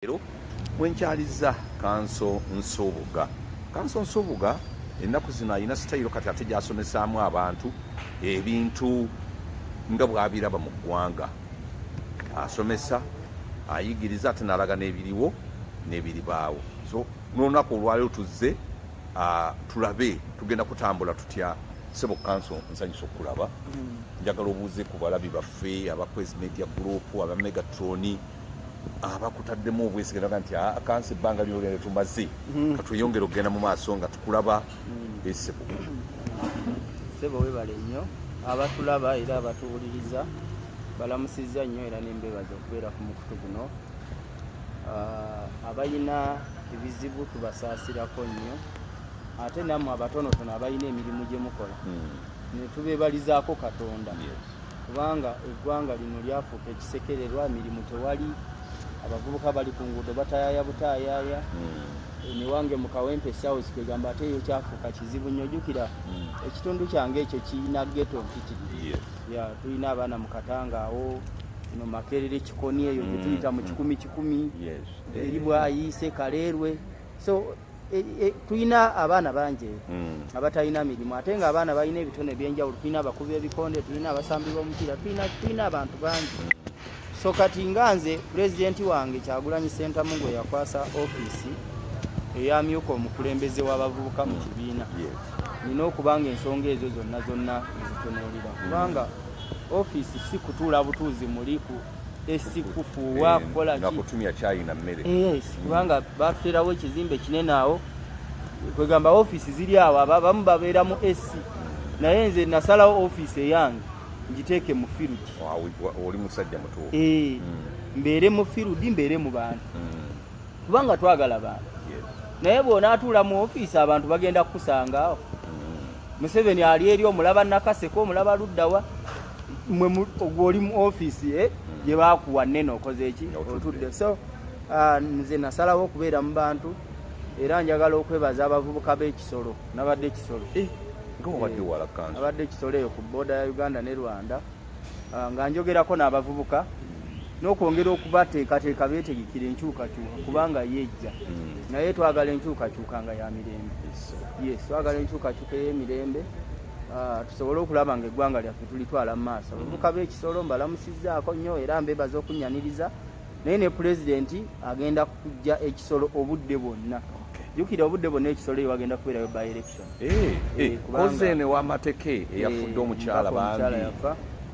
Leero mwenkyalizza kanso Nsubuga. Kanso Nsubuga ennaku zino alina sitayiro kati ate gyasomesaamu abantu ebintu nga bwabiraba mu ggwanga. Asomesa, ayigiriza ate n'alaga n'ebiriwo n'ebiribaawo. So n'olunaku olwaleero tuzze ah, tulabe tugenda kutambula tutya sebo kanso nsanyusa okulaba mm. njagala obuuze ku balabi baffe aba quest media group aba megatroni abakutaddemu obwesige naga nti ah, kansi ebbanga lyogende tumaze hmm. katweyongere okugenda mu maaso nga tukulaba hmm. esebo sebo webale nnyo abatulaba era abatuwuliriza balamusizza nnyo era nembebaza okubeera ku mukutu guno ah, abalina ebizibu tubasaasirako nnyo ate nammwe abatonotono abalina emirimu gye mukola hmm. netubebalizaako katonda kubanga eggwanga lino lyafuuka ekisekererwa emirimu tewali abavubuka bali ku nguudo batayaya butayaya hmm. emiwange mu kawempe south kwegamba ate eyo kyafuuka kizibu nnyo jukira hmm. ekitundu kyange ekyo kirina geto mpitiri ya tulina abaana mu katanga awo no makerere kikoni eyo gyetuyita hmm. mu kikumi kikumi eri bwayiise kaleerwe so E, e, tulina abaana bangi mm. abatalina mirimu ate nga abaana balina ebitone ebyenjawulo tulina abakubi ebikonde tulina abasambi b'omupiira tulina abantu bangi mm. so kati nga nze pulezidenti wange kyagulanyi sentamu gwe yakwasa ofiisi eyamyuka omukulembeze w'abavubuka mu mm. kibiina nina okuba nga ensonga ezo zonna zonna ezitunuulira kubanga ofiisi si kutuula butuuzi muli esikufuuwa eh, kukola nga kutumya chai na mmere yes mm. kubanga batuterawo ekizimbe kinene awo kwegamba office ziri awo abamu babeera mu ac naye nze nasalawo office eyange ngiteeke mu field oli musajja mutuufu eh, mm. mbeere mu field mbeere mu bantu mm. kubanga twagala bantu naye bw'onaatuula mu office abantu bagenda kukusanga Museveni ali eri omulaba Nakaseke omulaba luddawa mwe gwoli mu ofiisi eh? hmm. gye bakuwa nene okoze eki otudde so ah, nze nasalawo okubeera mu bantu era njagala okwebaza abavubuka b'ekisolo nabadde ekisolo eh, eh, abadde ekisolo eyo ku booda ya uganda ne rwanda ah, nga njogerako n'abavubuka n'okwongera okubateekateeka beetegekera enkyukakyuka kubanga yeejja hmm. naye twagala enkyukakyuka nga ya mirembe yes twagala enkyukakyuka ey'emirembe ah, tusobole okulaba nga eggwanga lyaffe tulitwala mu maaso hmm. abavubuka b'ekisolo mbalamusizzaako nnyo era mbeebaza okunnyaniriza naye ne pulezidenti agenda kujja ekisolo obudde bwonna jukira obudde bwonna ekisolo eyo wagenda kubeerayo by election eh, eh, koze eno ewamateke eyafudde eh, omukyala bambi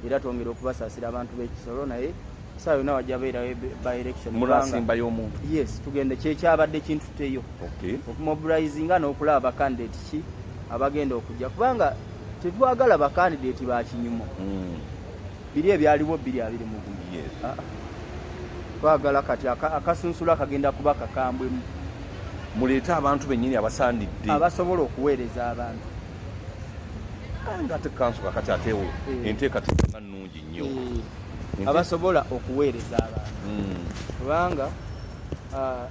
era twongera okubasaasira abantu b'ekisolo naye saa yona wajja beerayo by election mulasimbayo omuntu yes tugende kyekyabadde kintuteyo okumobilizinga n'okulaba bakandidate ki abagenda okujja kubanga tetwagala bakandidate bakinyumo hmm. biri ebyaliwo biri abiri mugumu ah, ah. twagala kati akasunsula akagenda kuba kakambwemu muleete abantu bennyini abasaanidde abasobola okuweereza abantu ah, nga ate kanso kakati atewo eh. enteekateeka nnungi nnyo eh. abasobola okuweereza abantu hmm. kubanga ah,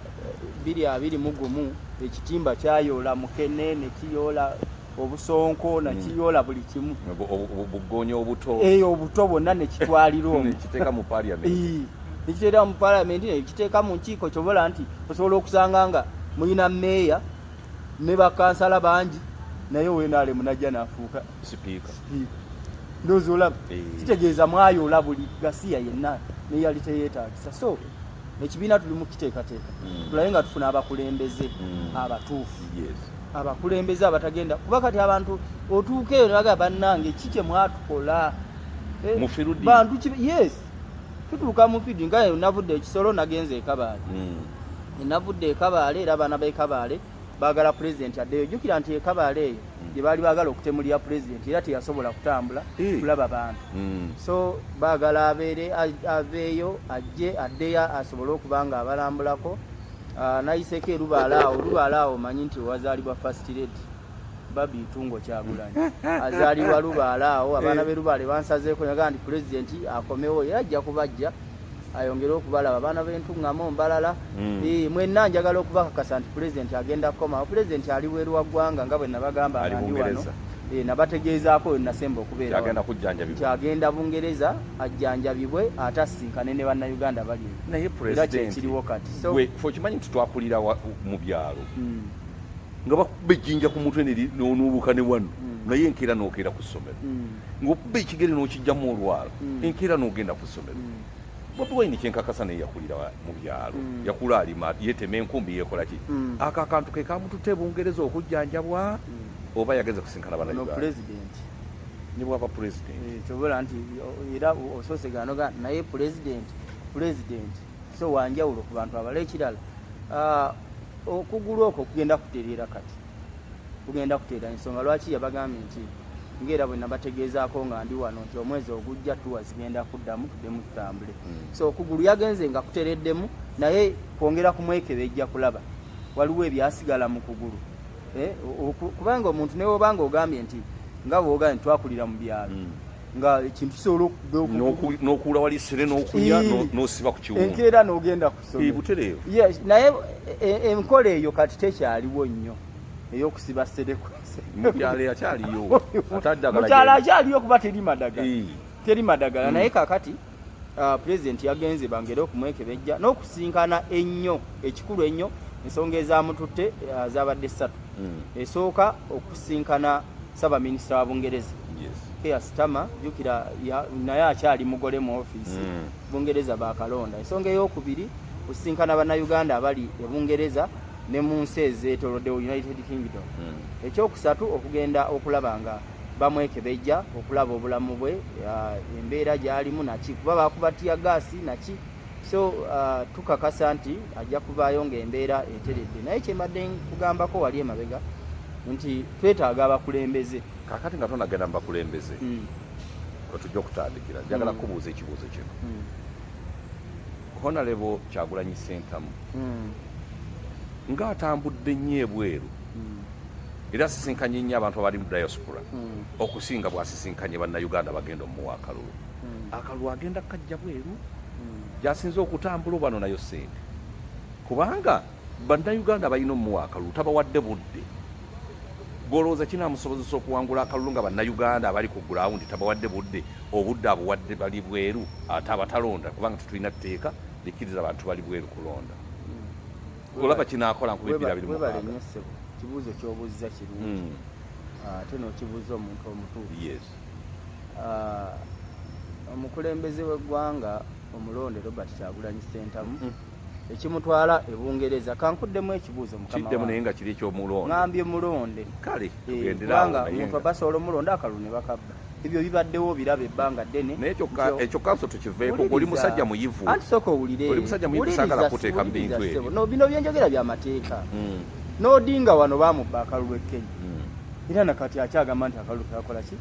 biri abiri mu gumu ekitimba kyayoola mukene ne kiyoola obusonko nakiyola buli kimu bugonya obuto eyo eh, obuto bwonna nekitwalira omu nekiteeka mu paliamenti nekiteera mu paliamenti nekiteeka mu nkiiko kyobola nti osobola okusanga nga mulina meeya ne bakansala bangi naye wenalemu najja nafuuka sipiika ndoozi olaba eh. kitegeeza mwayoola buli gasiya yenna neyali teyetagisa so ekibiina tuli mu kiteekateeka hmm. tulabe nga tufuna abakulembeze hmm. abatuufu abakulembeze abatagenda kuba kati abantu otuuka eyo nebagaa bannange ki kyemwatukola eh, bantu yes tutuuka mufidi nga navudde ekisolo nagenza ekabaale hmm. enavudde ekabaale era abaana bekabaale bagala pulezidenti addeyo jukira nti ekabaale eyo hmm. gyebaali bagala okutemulira pulezidenti era teyasobola kutambula eh. kulaba bantu hmm. so bagala abeere aveeyo ajje addeyo asobole okuba nga abalambulako Ah, nayiseko erubaala awo lubaala awo manyi nti wazaalibwa first lady babi tungo kyagulanyi azaalibwa lubaala awo abaana be lubaale bansazeeko nagaa nti pulezidenti akomewo era ajja kubajja ayongere okubalaba abaana bentuŋŋamu mbalala hmm. eh, mwenna njagala okubakakasa nti pulezidenti agenda kukomawo pulezidenti ali weeru wa ggwanga nga bwe nabagamba ngandi wano eh, nabategeezaako we nasemba okubeera nti agenda bungereza ajjanjabibwe ate asinkane ne bannayuganda bali naye presidentiriwo kati okimanyi nti twakulira mu byalo hmm. nga bakuba ejjinja ku mutwe nonuubuka ne wano hmm. naye enkeera nokeera ku ssomero hmm. ngaokuba ekigere nokijjamu olwalo enkeera nogenda ku ssomero bobi wine kyenkakasa naye yakulira mu byalo yakula alima yetema enkumbi yekolaki ako akantu ke kamutute bungereza okujjanjabwa oba yageze kusinkana banauganda ne bwaba pulezidenti eh, kyobola nti era osoose ganoga naye pulezidenti pulezidenti so wanjawulo ku bantu abala ekirala ah, okugulu okwo kugenda kutereera kati kugenda kutereera ensonga lwaki yabagambye nti ngaera bwe nabategeezaako nga ndi wano nti omwezi ogujja tuwa zigenda kuddamu tuddemu tutambule hmm. so okugulu yagenze nga kutereddemu naye kwongera kumwekebejja kulaba waliwo ebyasigala mu kugulu eh, kubanga omuntu newobanga ogambye nti nga bwogambye twakulira mu byalo hmm. nga ekintu kisobola okunokuula wali sire nokulya nosiba ku kiwundu enkeera nogenda kusobutereevu yes naye e, e, enkola eyo kati tekyaliwo nnyo eyokusiba seremukyalo akyaliyo mukyalo akyaliyo kuba teri madagala teri madagala naye kakati uh, pulezidenti yagenze bangere okumwekebejja n'okusinkana ennyo ekikulu ennyo ensonga ezamututte uh, zabadde ssatu mm. esooka okusinkana ssaabaminisita wa bungereza yes. keasitama jukira naye akyali mugole mu ofiisi mm. bungereza bakalonda ensonga eyokubiri kusinkana bannayuganda abali e bungereza ne mu nsi ezeetoloddewo united kingdom mm. ekyokusatu okugenda okulaba nga bamwekebejja okulaba obulamu bwe uh, embeera gyalimu naki kuba bakuba tiya gaasi naki so uh, tukakasa nti ajja kuvaayo ngaembeera eteredde naye kyembadde kugambako wali emabega nti twetaaga abakulembeze kakati nga tonagenda mu bakulembeze mm. wetujja okutandikira njagala mm. kubuuza ekibuuzo kino mm. honalebo kyagulanyi sentamu mm. ng'atambudde nnyo ebweru era asisinkanye nnyo abantu abali mu diaspora hmm. okusinga bwasisinkanye bannayuganda bagenda omuwa akalulu hmm. akalulu agenda kajja bweru hmm. gyasinza okutambula obano nayo sente kubanga bannayuganda balina omuwa akalulu tabawadde budde golowooza kinamusobozesa okuwangula akalulu nga bannayuganda abali ku gulawundi tabawadde budde obudde abuwadde bali bweru ate abatalonda kubanga tetulina tteeka likiriza abantu bali bweru kulonda olaba kinaakola nkubibira biri mukaaga kibuuzo kyobuzza kirungi hmm. ah, ate nokibuuza omuntu omutuufu yes ah, omukulembeze w'eggwanga omulonde robert kyagulanyi sentamu hmm. ekimutwala ebungereza kankuddemu ekibuuzo mukiddemu naye nga kiri ekyomulonde ngambye mulonde kale eh, tugenderaawo omuntu abasobola omulonde akalulu ne bakabba ebyo bibaddewo biraba ebbanga ddene naye kyokka ekyo kanso tukiveeko oli musajja muyivu anti sooka owulire oli musajja muyivu saagala kuteeka mu bintu ebyo no bino byenjogera bya mateeka hmm. n'odinga wano baamubba akalulu e kenya hmm. era nakati akyagamba nti akalulu kakola ki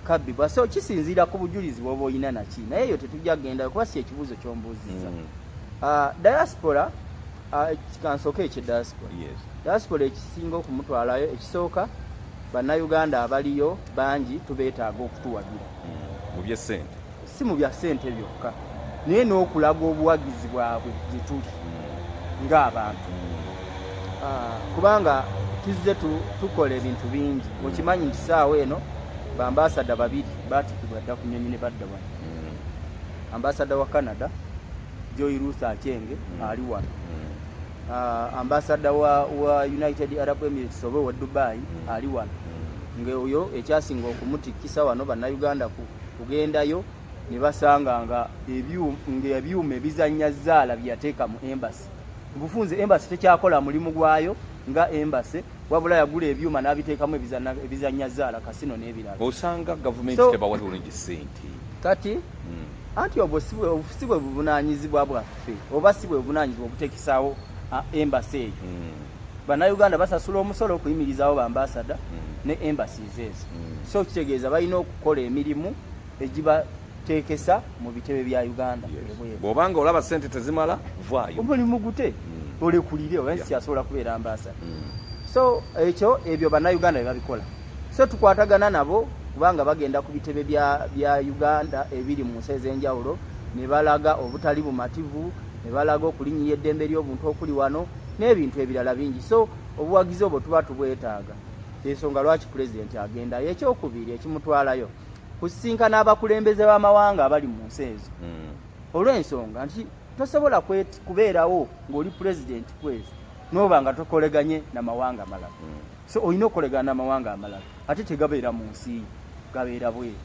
kabbi bwa so kisinziira ku bujulizi bwoba olina naki naye eyo tetujja kugendayo kuba si ekibuuzo kyombuuziza hmm. ah, diaspora ah, kansooka ekye diaspora diaspora ekisinga okumutwalayo ekisooka Bannayuganda abaliyo bangi tubeetaaga okutuwagira mu bye ssente, si mu bya ssente byokka naye n'okulaga obuwagizi bwabwe gye tuli ng'abantu ah, kubanga tuzze tukola ebintu bingi okimanyi nti saawa eno bambaasada babiri baatikibwa dda ku nyonyi ne badda wano ambasada wa canada joy ruth achenge mm. ali wano mm. uh, ambasada wa, wa United Arab Emirates oba wa Dubai mm. ali wano mm. nga oyo ekyasinga okumutikisa wano bannayuganda kugendayo ne basanga nga ebyuma ebizannya zaala byeyateeka mu embasi mubufunze embasi tekyakola mulimu gwayo nga embasi wabula yagula ebyuma n'abiteekamu ebizannya zaala kasino n'ebirala osanga gavumenti tebawa bulungi sente kati mm. anti obwo si bwe buvunanyizibwa bwaffe ffe oba si bwe buvunaanyizibwa obuteekisaawo embasi eyo hmm. bannayuganda basasula omusolo okuyimirizaawo bambasada hmm. ne embassies ezo hmm. so kitegeeza balina okukola emirimu egibateekesa mu bitebe bya uganda bwobanga olaba sente tezimala vaayo omulimu gute olekulire oba nsi asobola kubeera ambasada so ekyo ebyo bannayuganda bye babikola so tukwatagana nabo kubanga bagenda ku bitebe bya, bya uganda ebiri mu nsi ez'enjawulo ne balaga obutali bumativu ne balaga okulinyiya eddembe ly'obuntu okuli wano n'ebintu ebirala bingi so obuwagizi obwo tuba tubwetaaga ensonga lwaki pulezidenti agendayo ekyokubiri ekimutwalayo kusisinkana abakulembeze b'amawanga abali mu nsi ezo mm. olw'ensonga nti tosobola kubeerawo ng'oli pulezidenti kwezi n'oba nga tokoleganye na mawanga malala mm. so olina okukolegana n'amawanga amalala ate tegabeera mu nsi gabeera bweru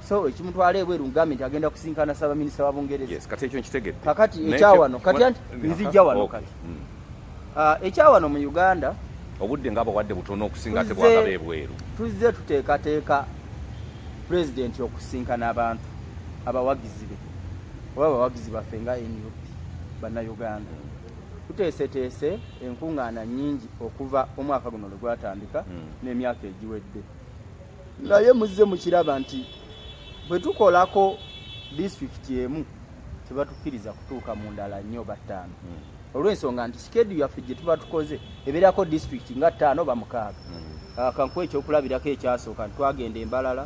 so ekimutwala ebweru ngambe nti agenda kusinkana ssaabaminisita wa bungereza kati ekyo nkitegedde kakati ekyawano kati anti nzijja wano kati hmm. ah, ekyawano mu uganda obudde nga abawadde butono okusinga ate bwagaba ebweru tuzze tuteekateeka pulezidenti okusinkana abantu abawagizi be oba abawagizi baffe nga nup bannayuganda tuteeseteese enkuŋŋaana nnyingi okuva omwaka guno lwe gwatandika hmm. n'emyaka egiwedde naye muzze mukiraba nti bwe tukolako disitulikiti emu tebatukkiriza kutuuka mu ndala nnyo oba ttaano hmm. olw'ensonga nti sikedu yaffe gye tuba tukoze ebeerako disitulikiti nga ttaano oba mukaaga hmm. ah, kankuwa ekyokulabirako ekyasooka nti twagenda embalala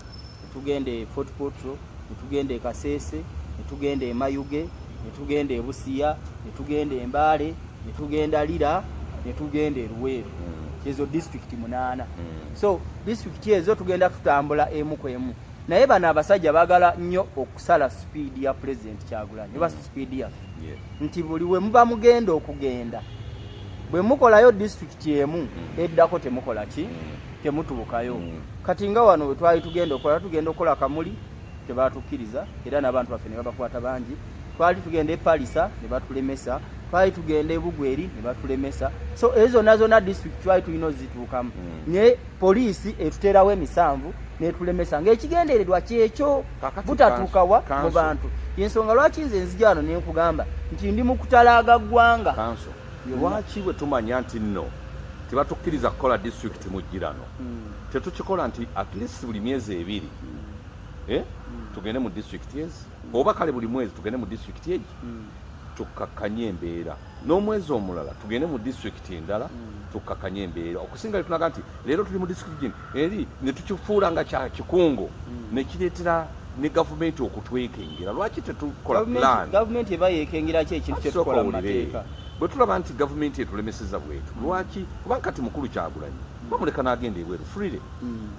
tugenda e Fort Portal netugenda e Kasese netugenda e Mayuge netugenda e Busia netugenda e Mbale netugenda Lira netugenda e Luweero hmm. ezo district munaana hmm. so district ezo tugenda tutambula emu ku emu naye bano abasajja bagala nnyo okusala sipiidi ya pulezidenti kyagulanyi oba sipiidi ya nti buli we muba mugenda okugenda bwe mukolayo disitulikiti emu mm. eddako temukola ki mm. temutuukayo mm. kati nga wano wetwali tugenda okola tugenda okukola kamuli tebatukkiriza era n'abantu baffe ne babakwata bangi twali tugenda e palisa ne batulemesa twali tugenda ebugweri ne batulemesa so ezo zonna zonna district twali tulina ozituukamu mm. naye poliisi etuteerawo emisanvu netulemesa ngaekigendererwa kyekyo butatuukawa mu bantu yensonga lwaki nze nzijano nenkugamba nti ndi mukutalaaga ggwanga lwaki bwe tumanya nti nno tebatukkiriza kukola disitulikiti mu ggirano hmm. tetukikola nti at least buli myezi ebiri hmm. Eh? Hmm. tugende mu disitulikiti ezi oba kale buli mwezi tugende mu disitulikiti egi tukkakkanye embeera n'omwezi omulala tugende mu disitulikiti endala tukkakkanye embeera okusinga lye tunaga nti leero tuli mu district gino eri ne tukifuula nga kya kikungo hmm. ne kireetera ne gavumenti okutwekengera lwaki tetukola plan gavumenti eba yekengera ki ekintu kye tukola mu mateeka bwe tulaba nti gavumenti etulemeseza bwetu hmm. lwaki kubanga kati mukulu kyagulanyi hmm. bamuleka n'agenda ebweru freely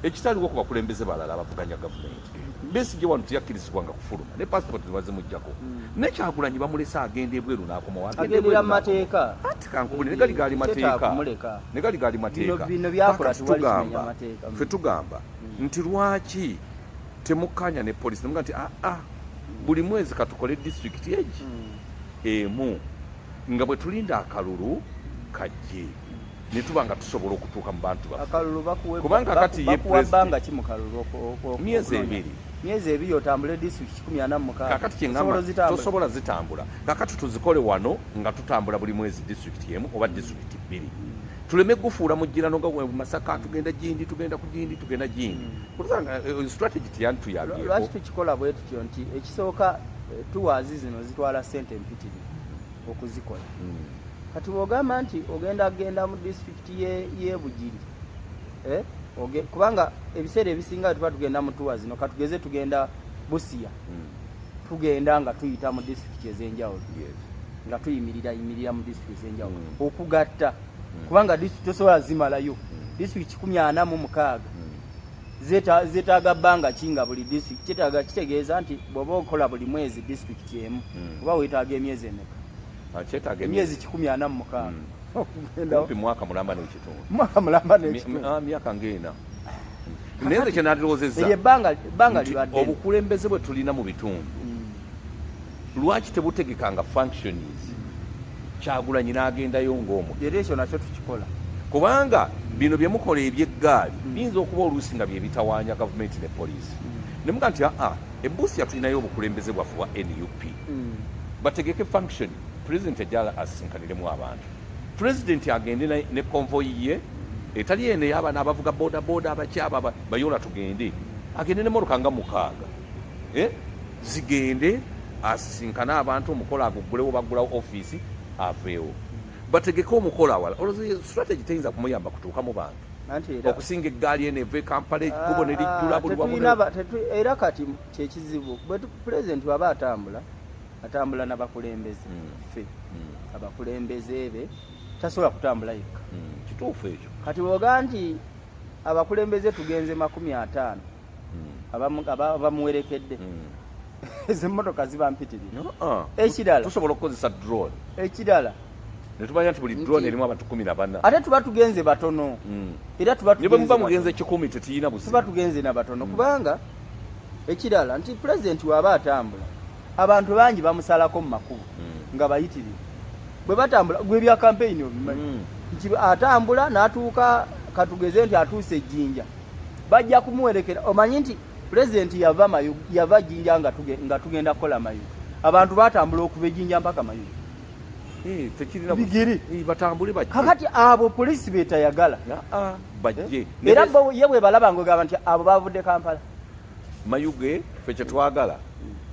ekitaliwo ku bakulembeze balala abavuganya gavumenti Besigye wano teyakkirizibwanga kufuluma ne passport tebazimuggyako hmm. ne Kyagulanyi bamulese agenda ebweru n'akomawo agenderera mu mateeka ati kankubule ne gali gaali mateeka ne gali gaali mateeka tugamba ffe tugamba hmm. nti lwaki temukkaanya ne polisi nemuga nti aa ah, ah, buli mwezi katukole disitulikiti egi hmm. emu nga bwe tulinda akalulu kajje netuba nga tusobola okutuuka mu bantu bafekubanga kati myezi ebiri myezi ebiri otambule district kikumi ana mumukaaga kakati kyengamba tosobola zitambula kakati tuzikole wano nga tutambula buli mwezi district emu oba district bbiri tuleme gufuula mujjirano nga mu masaka tugenda gindi tugenda ku gindi tugenda gindi mm. kuluzanga eh, eh, strategy tiyantuyabye lwaki tukikola bwe tutyo nti ekisooka eh, tuwaazi zino zitwala sente empitirivu okuzikola hmm. kati bwogamba nti ogenda kugenda mu disitulikiti yebugiri eh? kubanga ebiseera ebisinga tuba tugenda mu tuwa zino katugeze tugenda busiya hmm. tugenda nga tuyita mu disitulikiti ezenjawulo nga tuyimirira yimirira mu disitulikiti ezenjawulo hmm. okugatta kubanga disitulikiti tosobola zimalayo disitulikiti kikumi ana mu mukaaga zetaaga bbanga ki nga buli district kyetaaga kitegeeza nti bwoba okola buli mwezi district emu hmm. oba wetaaga emyezi emeka ah, emyezi kikumi ana mu mukaaga hmm. mwaka mulamba nekitundu mwaka mulamba nekitundu ah, myaka ngaena naye nze kyenalirowozezza ebbanga libaddene obukulembeze bwe tulina mu bitundu lwaki tebutegekanga functions kyagulanyi n'agendayo ng'omu era ekyo nakyo tukikola kubanga bino bye mukola eby'eggaali hmm. biyinza okuba oluusi nga bye bitawaanya gavumenti ne poliisi hmm. ne muga nti aa ebuusi yatulinayo obukulembeze bwaffe bwa nup hmm. bategeke function pulezidenti ajala asisinkaniremu abantu pulezidenti agende ne konvoyi ye etali eno ey'abaana abavuga bodaboda abakyaba bayoola tugende agende ne moroka nga mukaaga eh? zigende asisinkane abantu omukolo aguggulewo baggulawo ofiisi aveewo bategeke omukolo awala olwo strategy teyinza kumuyamba kutuuka mu bantu okusinga eggaali eno eva ekampala ekkubo ne lijjula buliwaera kati kyekizibu pulezidenti waba atambula atambula nabakulembeze hmm. ffe hmm. abakulembeze be tasobola kutambula yekka hmm. kituufu ekyo kati woga nti abakulembeze tugenze makumi ataano hmm. abamuwerekedde hmm. ezo emmotoka ziba mpitirira ah. ekirala tusobola okukozesa drone ekirala netumanya nti buli drone erimu abantu kumi na bana ate tuba tugenze batono hmm. era tubamuba mugenze kikumi tetiyina buzibu tuba tugenze na batono kubanga ekirala nti pulezidenti waaba atambula abantu bangi bamusalako mu makubo nga bayitirivu bwe batambula gwe ebya kampeyini obimanyi nti atambula n'atuuka katugeze nti atuuse ejjinja bajja kumuwerekera omanyi nti pulezidenti yava mayu yava jinja nga tugenda kukola mayu abantu batambula okuva ejinja mpaka mayu eh, bigiri eh, batambule bajje kakati abo polisi betayagala ah, ah, bajje eh? era bo ye bwebalaba ngogamba nti abo bavudde kampala mayuge fe kyetwagala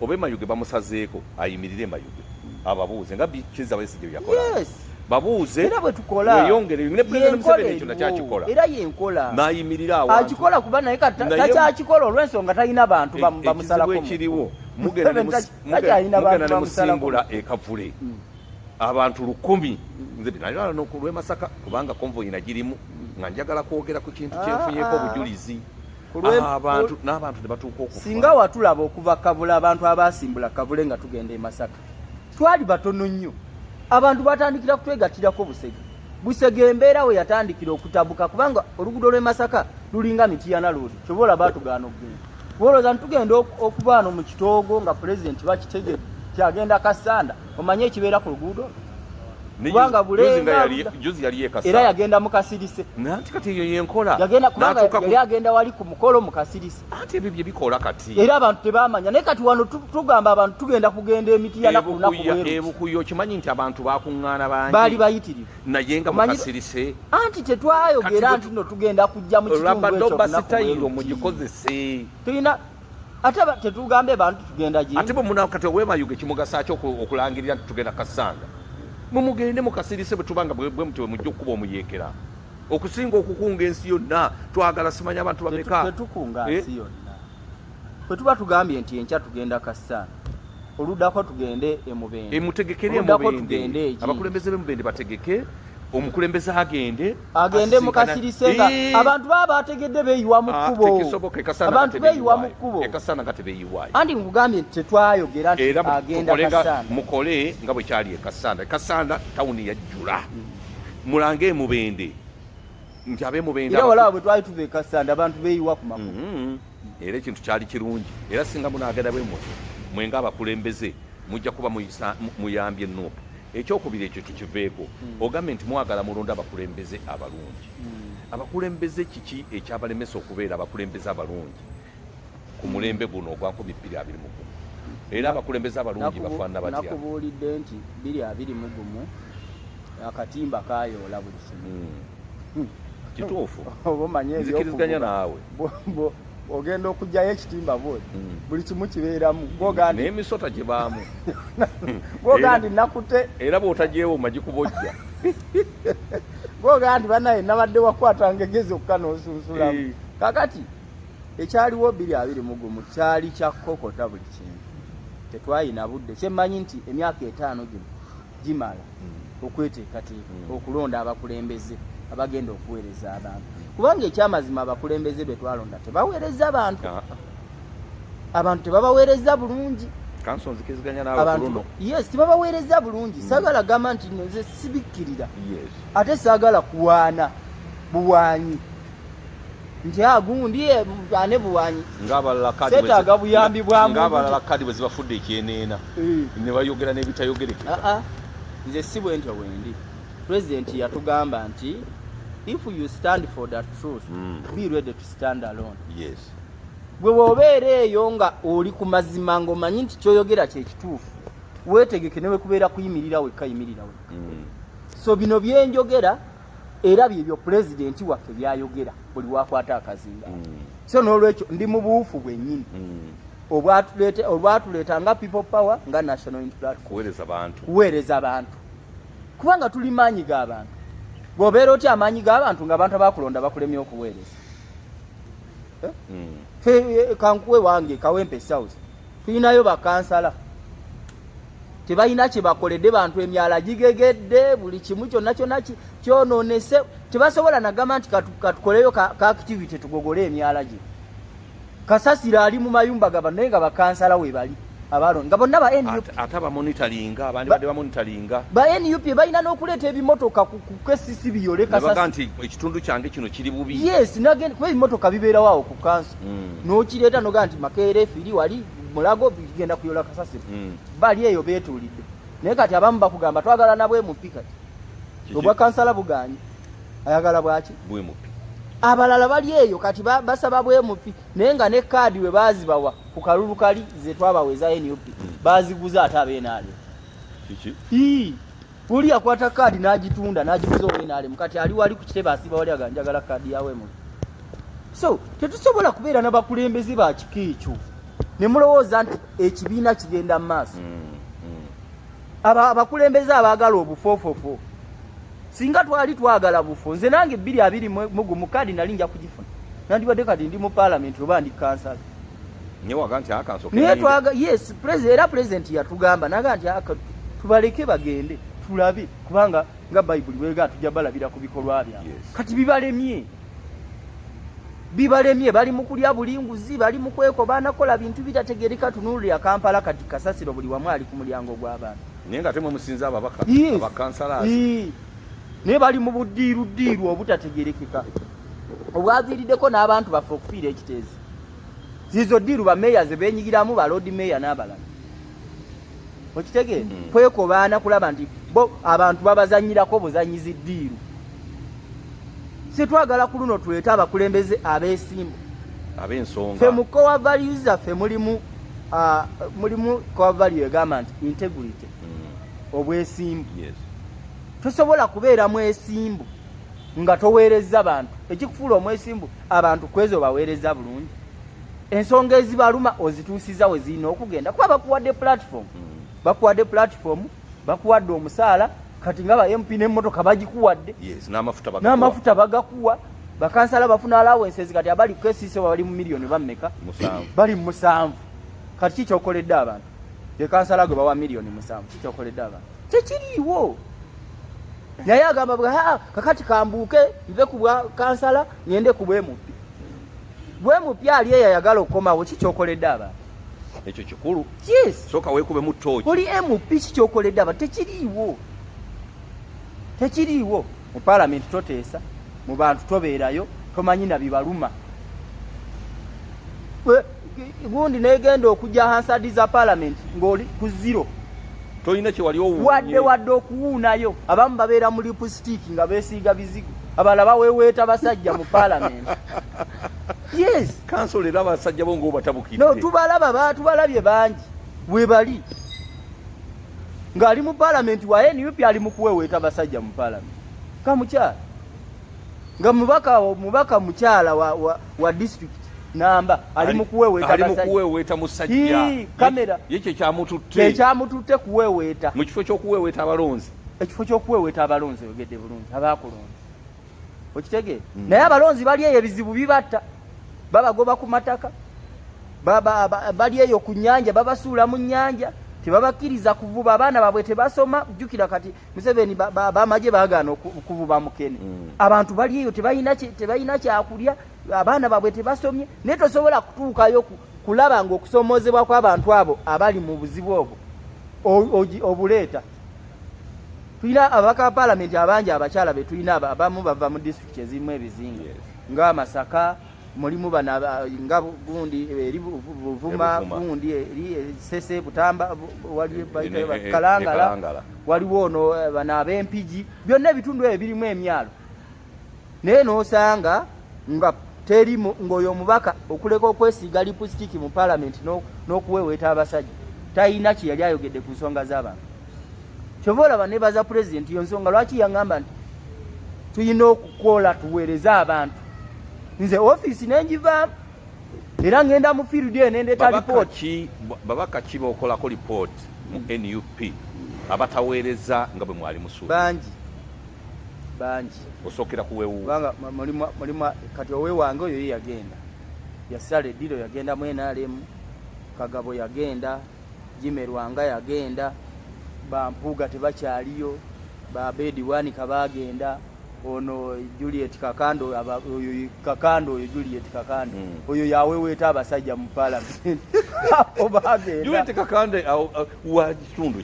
obe mayuge bamusazeeko ayimirire mayuge ababuuze nga kiza besigye byakola yes. babuuze era bwetukola weyongere ne president museveni ekyo nakyakikola era yenkola nayimirira awo akikola kuba naye takyakikola olwensonga talina bantu bamusalako e- ekiriwo mugenda ne musimbula ekavule mm. abantu lukumi mm. nze nayo nokulwemasaka kubanga konvoyi nagirimu mm. nga njagala kwogera ku kintu kyenfunyeko ah, ah. obujulizi singa watulaba okuva kabula abantu abasimbula kabule nga tugenda e masaka twali batono nnyo abantu batandikira kutwegatirako busege busege embeera we yatandikira okutabuka kubanga oluguudo lw'e masaka lulinga mitiyana loodi kyoba olaba tugaana okugenda kuba olowooza ntitugenda okubaano mu kitoogo nga pulezidenti bakitegere kyagenda kasanda omanyi ekibeera ku luguudo kubanga bulengajuzi yali yekasa era yagenda mu kasirise nanti kati eyo yenkola yagenda kubanga yali agenda wali ku mukolo mu kasirise ate ebyo bye bikola kati era abantu tebamanya naye kati wano tugamba abantu tugenda kugenda emiti ya naku naku weru ebukuyo kimanyi nti abantu bakuŋŋaana bangi bali bayitirivu naye nga mu kasirise anti tetwayogera nti no tugenda kujja mu kitundu ekyo rabadobasitayiro mugikozese tulina ate tetugambye bantu tugenda gye ate bwe munawo kati owemayuge kimugasaaki okulangirira nti tugenda kasanga mumugende mukasirise bwe tubanga bwe mutyo bwe mujja okukuba omuyeekera okusinga okukunga ensi yonna twagala simanya abantu bameka tetukunga eh? nsi yonna bwe tuba tugambye nti enkya tugenda kasanga oludako tugende emubende emutegekere emubende abakulembeze bemubende bategeke omukulembeze agende agende mukasirise nga abantu baba bategedde beyiwa mu ah, kkubo abantu beyiwa mu kkubo anti nkugambye nti tetwayogera nti agenda kasanda mukole nga bwe kyali e kasanda e kasanda tawuni yajjula hmm. mulange emubende nti abemubende era walaba bwe twali tuva e kasanda abantu beyiwa ku makubo hmm. era ekintu kyali kirungi era singa munaagenda bwe mutyo mwe ng'abakulembeze mujja kuba muyambye nup ekyokubiri ekyo tukiveeko hmm. ogambye nti mwagala mulonda abakulembeze abalungi hmm. abakulembeze kiki ekyabalemesa okubeera abakulembeze abalungi ku mulembe guno ogwa nkumi bbiri abiri mu gumu era abakulembeze abalungi bafaanana batya nakubuulidde nti bbiri abiri mu gumu akatimba kayoola buli kimu hmm. hmm. kituufu nzikiriziganya naawe ogenda okugyayo ekitimba bwe hmm. buli kimu kibeeramu nemisota gibaamu gogandi nakute era bwotagyewo magikubojja gogandi banaye nabadde wakwata ngegezi okka nosunsulamu eh. kakati ekyaliwo biri abiri mugumu kyali kyakukokota buli kintu tetwayina budde kyemmanyi nti emyaka etaano gino gimala hmm. okweteekateeka hmm. okulonda abakulembeze abagenda okuweereza abantu kubanga ekyamazima abakulembeze be twalonda tebaweereza bantu ah. abantu tebabaweereza bulungi yes tebabaweereza bulungi hmm. saagala gamba nti nze sibikkirira ate saagala kuwaana buwaanyi nti agundi ah, eh, ane buwanyi setaaga buyambi bwamungabalala kadi bwe zibafudde ekyeneena eh. ne bayogera n'ebitayogerekeka ah, ah. nze si bwe ntyo wendi pulezidenti yatugamba nti if you stand for the truth mm. be ready to stand alone yes gwe wobeera eyo nga oli ku mazima ngaomanyi nti kyoyogera kyekituufu wetegeke newekubeera kuyimirira wekka yimirira wekka mm. so bino byenjogera era byebyo pulezidenti waffe byayogera buli wakwata akazinga mm. so nolwekyo ndi mu buufu bwenyini mm. olwatuleeta nga people power nga national kuweereza bantu kubanga tuli maanyi ga bantu bwobeera otya amaanyi ga bantu nga abantu abakulonda bakulemye okuweereza eh? mm. fe eh, kankuwe wange kawempe south tulinayo bakansala tebalina kyebakoledde bantu emyala gigegedde buli kimu kyonna kyonna kyononese tebasobola nagamba nti katukoleyo ka activity tugogole emyala gye kasasira ali mu mayumba gaba naye nga bakansala webali abalon nga bonna banup balina n'okuleeta ebimotoka kukesisi biyole kasasi nti ekitundu kyange kino kiri bubi yes kuba ebimotoka bibeerawo awo ku kansi mm. nokireeta nogaa nti makeera efiri wali mulago bigenda kuyola kasasiro mm. bali eyo betuulidde naye kati abamu bakugamba twagala nabwe mupi kati obwa kansala buganye ayagala bwaki bwemupi abalala bali eyo kati basaba bwemupi naye nga ne kaadi we bazibawa ku kalulu kali zetwabawa eza nup mm. baziguza ate abeenaalyo kiki Uli akwata kaadi n'agitunda n'agiguza owe n'alemu kati ali wali ku kitebe asiba wali aga njagala kaadi yawe mu so tetusobola kubeera na bakulembeze ba kika ekyo ne mulowooza nti ekibiina kigenda mu maaso mm, mm. abo abakulembeze abaagala obufoofofo singa twali twagala bufo nze nange bbiri abiri mugumu kaadi nali nja kugifuna nandibadde kati ndi mu paalamenti oba ndi kansala newaga nti akansoke naye twaga yes president era president yatugamba naga nti aka tubaleke bagende tulabe kubanga nga bible wega tujja balabira ku bikolwa bya yes. kati bibalemye bibalemye bali mukulya bulinguzi bali mukweko banakola bintu bitategereka tunulu ya kampala kati kasasiro buli wamu ali ku mulyango gw'abantu naye nga temwe musinza ababaka yes. abakansala yes. naye bali mu buddiiru ddiiru obutategerekeka obwaviiriddeko n'abantu baffe okufiira ekiteezi zizo diru ba mayor ze benyigiramu ba lord mayor nabala okitege mm. kweko baana kulaba nti bo abantu babazanyira ko buzanyizi diru sitwagala kuluno tuleta abakulembeze abesimbo abensonga fe mukowa values fe mulimu uh, mulimu kowa value egamba nti integrity mm. obwesimbu yes. tosobola kubeera mwesimbu nga toweerezza bantu ekikufuula omwesimbu abantu kwezo baweereza bulungi ensonga ezibaluma ozituusiza we zirina okugenda kuba bakuwadde platform mm. bakuwadde platform bakuwadde omusaala kati nga ba mp n'emmotoka bagikuwadde n'amafuta bagakuwa bakansala bafuna alawenses kati abali kukesiisa bali mu miliyoni bammeka bali mu musanvu kati kikyokoledde abantu ye kansala gwe bawa miliyoni musanvu kikyokoledde abantu tekiriiwo naye agamba bwa ah, kakati kambuuke nve ku bwa kansala ngende ku bwemupi bwemupi ali eyo ayagala okukomawo kikyokoledde abantu ekyo kikulu soka wekube mu toki oli mp kikyokoledde abantu tekiriiwo tekiriiwo mu palamenti toteesa mu bantu tobeerayo tomanyi na bibaluma gundi negenda okujja hansadi za palamenti ng'oli ku zero tolina kyewali wadde wadde okuwuunayo abamu babeera mu lipusitiiki nga beesiiga bizigo abala baweweeta basajja mu palamenti yes kanso leero abasajja bo ngaobatabukidde no tubalaba batubalabye bangi webali ng'ali mu palamenti wa nup ali mu kuweweeta basajja mu palamenti kamukyala nga mubaka mubaka mukyala wa, wa, wa district namba ali mukuweweeta ali mukuweweeta musajja kamera ye kye kyamututte kye kyamututte kuweweeta mu kifo ky'okuweweeta abalonzi ekifo ky'okuweweeta abalonzi oyogedde bulungi abaakulonzi okitegeera hmm. naye abalonzi bali eyo ebizibu bibatta babagoba ku mataka bali eyo ku nyanja babasuula mu nyanja tebabakkiriza kuvuba abaana babwe tebasoma jukira kati museveni bamaje bagaana okuvuba mukene mm. abantu bali eyo tebalina kyakulya abaana babwe tebasomye naye tosobola kutuukayo kulaba nga okusomoozebwa kw'abantu abo abali mu buzibu obwo obuleeta tulina ababaka ba palamenti abangi abakyala betulina abamu bava mu disitulikiti ezirimu ebizinga nga masaka mulimu bana nga gundi eri buvuma gundi eri e, sese butamba e, e, kalangala waliwo ono bana abempigi byonna ebitundu ebyo birimu emyalo naye nosanga nga teri ngaoyo omubaka okuleka okwesiiga lipusitiki mu palamenti n'okuweweeta abasajja talina kye yali ayogedde ku nsonga z'abantu kyova olaba nebaza pulezidenti yo nsonga lwaki yaŋamba nti tulina okukola tuweereze abantu nze ofiisi nenjivaamu era ŋenda mu field eyo nendeeta lipooti babaka ki bokolako lipooti mu nup abataweereza nga bwe mwali musuubangi bangi osokera kuwewu banga mulima mulima kati owe wange oyo yagenda yasale dilo yagenda mu NRM kagabo yagenda jime rwanga yagenda bampuga tebakyaliyo ba bedi wani kabagenda ono Juliet Kakando oyo Kakando oyo Juliet Kakando mm. oyo yawe weta abasajja mu parliament oba agenda Juliet Kakando wa kitundu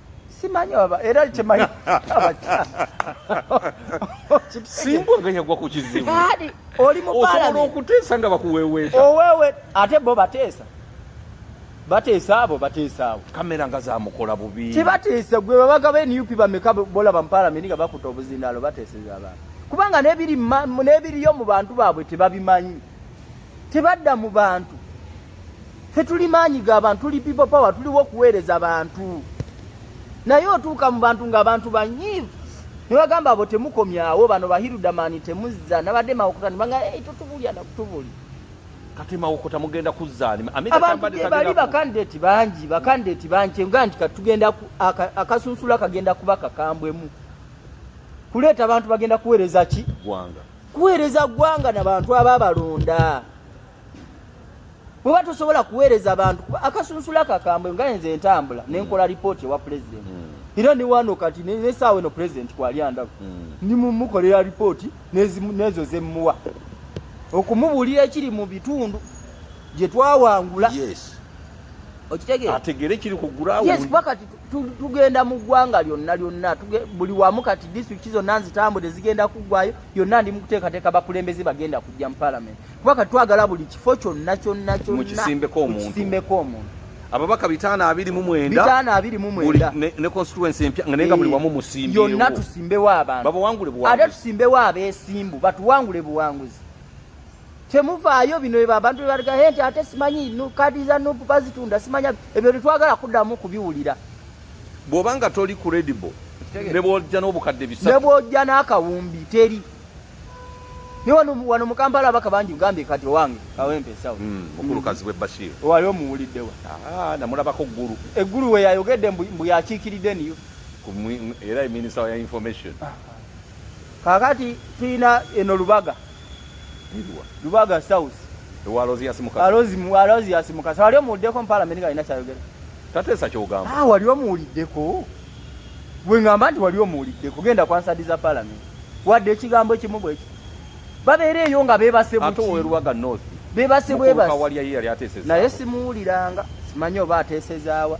simanyi baba era kyemanyi simbwa nga yagwa ku kizibu kati oli mu osobola okuteesa nga bakuweweeta owewe ate bo bateesa bateesa abo bateesa abo kamera nga zamukola bubi tebateesa gwe babaga ba nup bameka bolaba mu palamenti nga bakuta obuzindaalo bateeseza abantu kubanga nebiriyo mu bantu baabwe tebabimanyi tebadda mu bantu fe tuli maanyi ga bantu tuli people power tuliwo okuweereza bantu naye otuuka mu bantu ng'abantu banyiivu ne bagamba abo temukomyawo bano bahirudamani temuzza nabadde mawokota ne banga hey, totubulya nakutubuli kati mawokota mugenda kuzzaani abantubali bakandideti bangi bakandideti bangi nga nti katugenda akasunsula kagenda kuba kakambwemu kuleeta abantu bagenda kuweereza ki gwanga kuweereza ggwanga na bantu aba balonda muba tosobola kuweereza bantu kuba akasunsula kakambwe nga enze entambula mm. nenkola lipooti ewa pulezidenti mm. era newano kati nesaawa eno pulezidenti kwali andaku mm. nimumukolera lipooti nezo zemuwa okumubuulira ekiri mu bitundu gye twawangula okitegeera ategeere kiri ku gulawo tugenda mu ggwanga lyonna lyonna buli wamu kati disitulikiti zonna nzitambudde zigenda kuggwayo yonna ndi mukuteekateeka bakulembeze bagenda kujja mu palamenti kuba kati twagala buli kifo kyonna kyonna kyonnakisimbeko omuntu ababaka bitaano abiri mu mwendabitaano abiri mu mwenda ne constituency empya nga nenga buli eh, wamu musimbyewo yonna tusimbewo abantu babawangule buwanguzi ate tusimbewo abeesimbu batuwangule buwanguzi temuvaayo bino ebo abantu bebaligaye nti ate simanyi kadi za nupu bazitunda simanya ebyo tetwagala kuddamu kubiwulira bwoba nga toli credible nebwojja n'obukadde bisatu nebwojja n'akawumbi teri ni wano wano mukampala abaka bangi ugambye kati owange kawempe sawa hmm, mukulu kazi we bashir wali omuwulidde wa ah, namulabako ggulu eggulu we yayogedde mbu yakiikiridde niyo era minisita ya information ah, ah. kakati tulina eno lubaga Nidwa. Lubaga South. Ewa Rozi ya Simukasa. Rozi mu Rozi ya Simukasa. Wali omuwuddeko mu parliament nga ina kyayogera. Tateesa kyogamba. Ah, wali omuwuliddeko. Gwe ngamba nti wali omuwuliddeko. Genda kwa nsadi za parliament. Wadde ekigambo ekimu bwekyo. Babeera eyo nga beebase buki. Ate owe Lubaga North. Beebase bwebasi. Mukubuka wali yali ateeseza. Naye simuwuliranga. Simanyi oba ateesezaawa.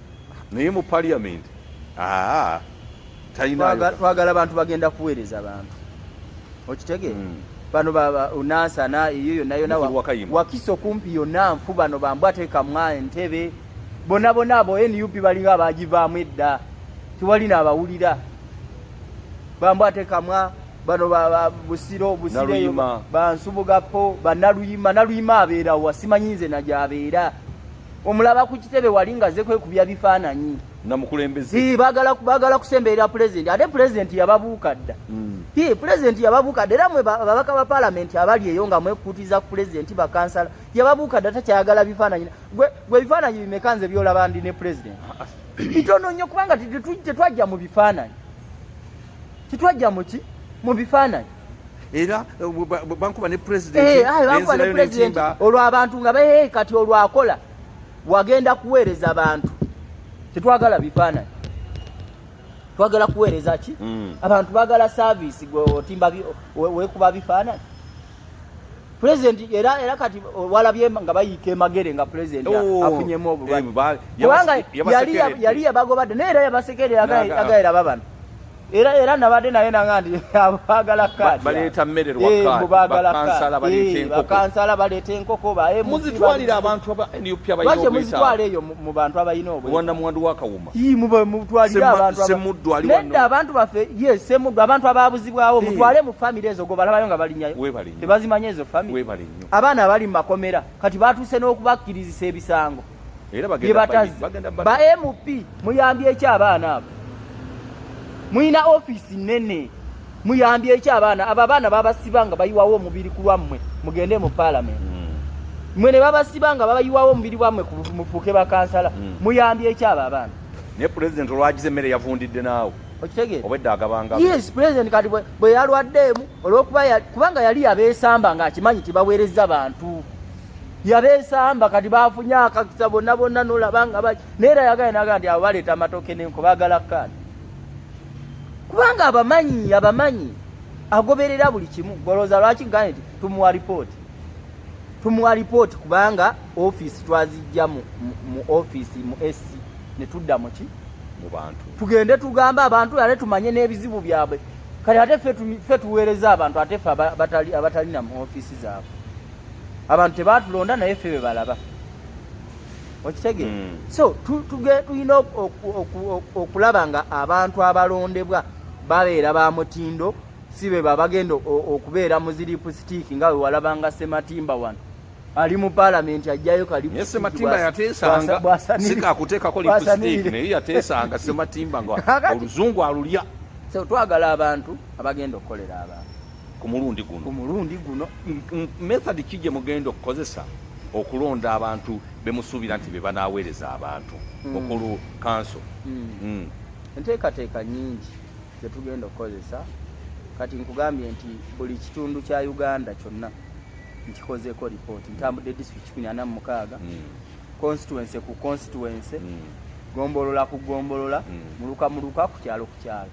naye mu parliament aa talina twagala bantu bagenda kuweereza bantu okitegeera mm. bano unansana eyo yonna yona wakisa okumpi yonna nfu bano bambu atekamwa entebe bona bona abo nup balinga abagivaamu edda tewali naabawulira bambu atekamwa bano busiro busiro bansubugapo banaluyima naluyima abeerawa simanyi nze nagyabeera omulaba ku kitebe wali nga ze kwekubya bifaananyi nga mukulembeze bagala bagala kusemberera pulezidenti ate pulezidenti yababuuka dda hmm. pulezidenti yababuuka dda era mwe babaka ba palamenti abali eyo nga mwekutiza ku pulezidenti bakansala yababuuka dda takyayagala bifaananyi gwe ebifaananyi bimeka nze byolaba ndi ne pulezidenti bitono nnyo kubanga tetwajja mu bifaananyi Kitwajja mu ki? Mu bifaananyi. Era eh, bankuba ne president. Eh, ayi bankuba ne president. Olwo abantu nga behe kati olwo akola. Wagenda kuweereza abantu. Kitwagala bifaananyi. Twagala kuweereza ki? Mm. Abantu bagala service gwe otimba wekuba bifaananyi. president era era kati walabye nga bayiika emagere nga president oh, afunyemu obulwadde eh, kubanga yali yali yabagobadde naye era yabasekerera agayira babano era era nabadde naye nanga nti abagala kaadi baleeta mmere lwakansala eh, baleeta enkoko muzitwalira abantu aba nup abayina obwetaavu lwaki muzitwala eyo mu bantu abalina obwetaavu wanda mwandu wakawuma nedda abantu baffe ye semuddu abantu ababuzibwawo mutwale mu famiry ezo gobalabayo nga balinyayo tebazimanya ezo famiry abaana abali mu makomera kati batuuse n'okubakkirizisa ebisango byebatazi ba mp muyambye eki abaana abo mulina ofiisi nene muyambye eki abaana abo abaana babasiba nga bayiwawo omubiri ku lwammwe mugende mu paalamenti mm. mwe ne babasiba nga babayiwawo omubiri bwammwe mufuuke bakansala mm. muyambye eki abo abaana naye pulezidenti olwagize emmere yavundidde naawe okitegeera obwedda agabanga yes pulezidenti kati bwe yalwaddeemu olwokuba kubanga yali yabeesamba nga akimanyi nti baweereza bantu yabesamba kati bafunye akakisa bonna bonna nolaba nga baki naye era yagala naga nti abo baleeta amatooke nenko bagala kaani kubanga abamanyi abamanyi agoberera buli kimu golooza lwaki gane nti tumuwa ripooti tumuwa ripooti kubanga ofiisi twazijja mu ofiisi mu ec ne tudda muki mu bantu tugende tugambe abantu ate tumanye n'ebizibu byabwe kale ate ffe tuweereza abantu ate ffe abatalina mu ofiisi zaabwe abantu tebaatulonda naye ffe be balaba okitege mm. so tulina okulaba nga abantu abalondebwa babeera ba mutindo si be babagenda okubeera muziripu sitiiki nga wewalabanga sematimba wano ali mu palamenti ajjayo kalisematimba yateesanga sikakuteekako lipusitiiki naye yateesanga sematimba nga oluzungu alulya so twagala abantu abagenda okukolera abantu ku mulundi guno ku mulundi guno method ki gye mugenda okukozesa okulonda abantu be musuubira nti be banaaweereza abantu hmm. okulu kanso hmm. Hmm. enteekateeka nyingi ze tugenda okukozesa kati nkugambye nti buli kitundu kya uganda kyonna nkikozeko lipooti ntambudde district kumi ana mu mukaaga constituency ku constituency gombolola ku gombolola muluka muluka ku kyalo ku kyalo